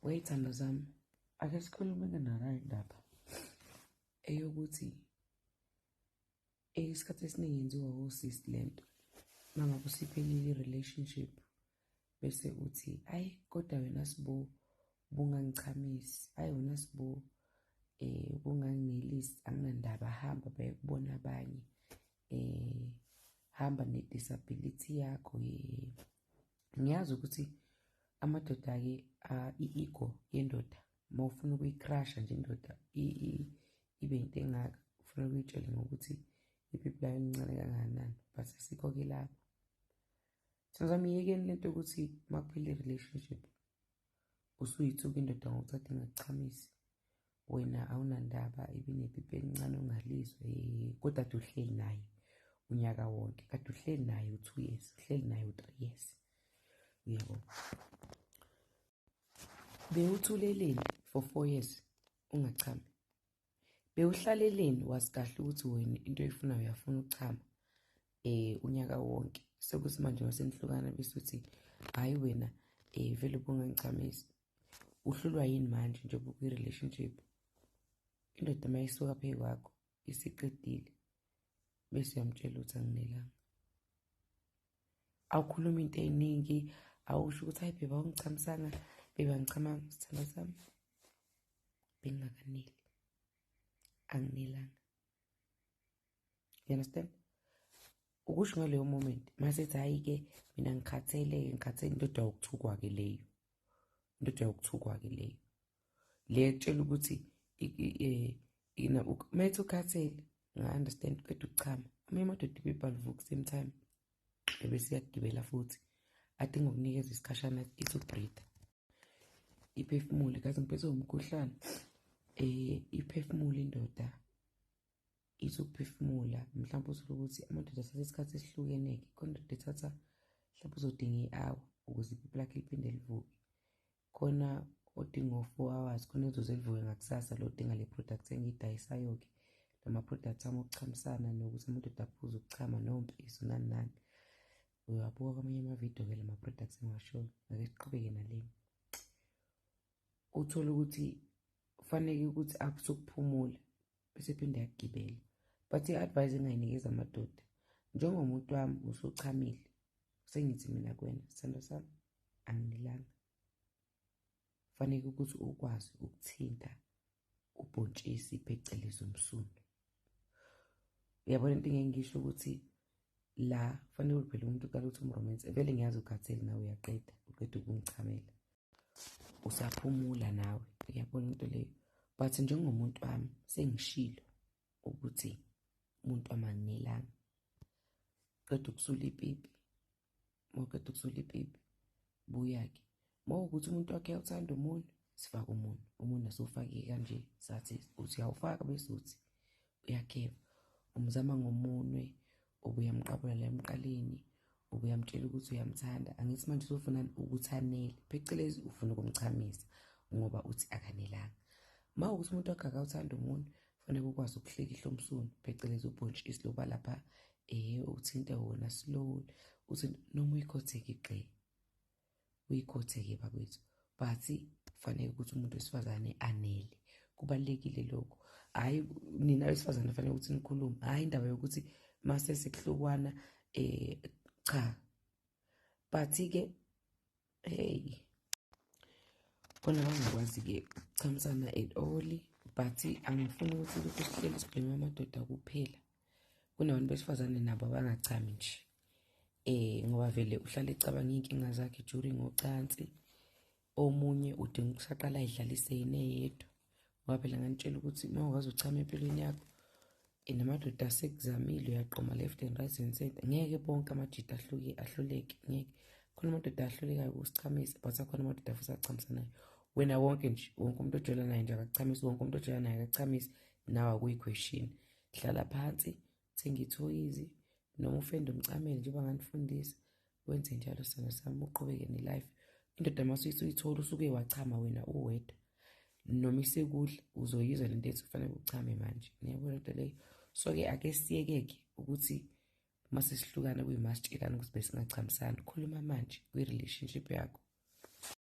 wey'thando zami ake sikhulumeke nala indaba eyokuthi isikhathi esiningi yenziwa wosisi le nto mangabe usiphelile i-relationship bese uthi ayi kodwa wena sibo bungangichamisi ayi wena sibo um eh, bunganginelisi anginandaba hamba bayekubona abanye um hamba ne-disability yakho ye ngiyazi ukuthi amadoda-ke i-ego yendoda uma ufuna ukuyikrasha nje indoda ibe into engaka ufuna ukuyitshele ngokuthi ipipi layo incane kangakanani but asikho-ke lapho senzami yekeni lento yokuthi uma kuphela i-relationship usuyithuka indoda ngokuthi ade ngakuchamisi wena awunandaba ibinepipi elincane ongalizwe eh, kodwa kade uhleli naye unyaka wonke kade uhleli naye u-two years uhleli naye u-three years uyabo bewuthuleleni for four years ungachami bewuhlaleleni wazi kahle ukuthi wena into oyifuna uyafuna ukuchama eh unyaka wonke sekusimanje wasenihlukana bese uthi hayi wena eh vele ubungangichamisi uhlulwa yini manje njengoba ukwi-relationship indoda uma isuka phezu kwakho isiqedile bese uyamtshela ukuthi anginelanga awukhuluma into eyiningi awusho ukuthi hayi bheba ungichamisanga bheba ngichamanga sithanda sami bengingakaneli anginelanga you understand ukusho ngaleyo moment masethi hhayi-ke mina ngikhathele-ke ngikhathele indoda yokuthukwa-ke leyo indoda yokuthukwa-ke leyo le etshela ukuthi methi ukhathele nga-understand qeda ukuchama amanye amadoda ibibhalvuka kusame time ebesiyagibela futhi adinga ukunikeza isikhashana ithi ubreathe iphefumule kaze ngiphethe umkhuhlane um iphefumule indoda ithi ukuphefumula mhlawumbe uthole ukuthi amadoda athatha isikhathi esihlukene-ke khona ndoda ethatha mhlawumbe uzodinga i-hour ukuze ipipi lakhe liphinde livuke khona odinga o-four hours khona ezoze livuke ngakusasa lo odinga le product engiyidayisayo-ke lama-product ami okuchamisana nokuthi amadoda aphuze ukuchama nompiso nani nani uyabuka kwamanye amavidiyo-ke la ma-products engiwashoyo ngake siqhubeke naleni uthole ukuthi kufaneke ukuthi aphuze ukuphumula bese phinde agibele but i-advise engayinikeza amadoda njengomuntu wami usuchamile sengithi mina kwena sithando sami angilanga fanele ukuthi ukwazi ukuthinta ubhontshisi phecelezi umsundu uyabona into engengisho ukuthi la fanele uliphele umuntu uqala ukuthi umromance vele ngiyazi ukhathele nawe uyaqeda uqeda ukungichamela usaphumula nawe uyabona into leyo but njengomuntu wami sengishilo ukuthi umuntu wami anginelanga qeda ukusula ipipi mawuqeda ukusula ipipi buya-ke mawukuthi umuntu wakhe awuthanda umuntu sifake umuntu umuntu asowufake kanje sathi uthi uyawufaka bese uthi uyageba umzama ngomunwe ubuyamqabula la emqaleni ubuyamtshela ukuthi uyamthanda angithi manje uzofuna ukuthi anele phecelezi ufuna ukumchamisa ngoba uthi akanelanga ma ukuthi umuntu wakhe akawuthanda umuntu fanele ukwazi ukuhlikihla umsunu phecelezi ubhontshisi loba lapha um uthinte wona slowly uthi noma uyikhotheke igxee uyikhothe-ke bakwethu but kufanele ukuthi umuntu wesifazane anele kubalulekile lokho hhayi nina wesifazane kufanele ukuthi nikhulume hhayi indaba yokuthi mase sekuhlukwana um cha but-ke heyi khona bangakwazi-ke ukuchamisana at all but angifuni ukuthi lokhu sihleli sibhema amadoda kuphela kunabantu besifazane nabo abangachami nje eh ngoba vele uhlale ecabanga inkinga zakhe during ngocansi omunye udinga ukusaqala ayidlalise yini eyedwa ngoba phela nganitshela ukuthi uma ukwazi uchama empilweni yakho eh, namadoda asekuzamile uyaqoma left and right and center ngeke bonke amadoda ahluke ahluleke ngeke khona amadoda ahlulekayo ukusichamise but akhona amadoda futhi achamisanayo wena wonke nje wonke umuntu ojola naye nje akachamisi wonke umuntu ojola naye akachamisi nawe akuyi-question hlala phansi thenga ithoyizi noma ufende umcamele njengoba nganifundisa wenze njalo sona sami uqhubeke nelife indoda masuyise uyithola usuke wachama wena uwedwa noma isekudla uzoyizwa lento ethi kufanele uchame manje niyabona into leyo so-ke ake siyeke-ke ukuthi uma sesihlukana kuyimasitshelana ukuthi besingachamisani khuluma manje kwi-relationship yakho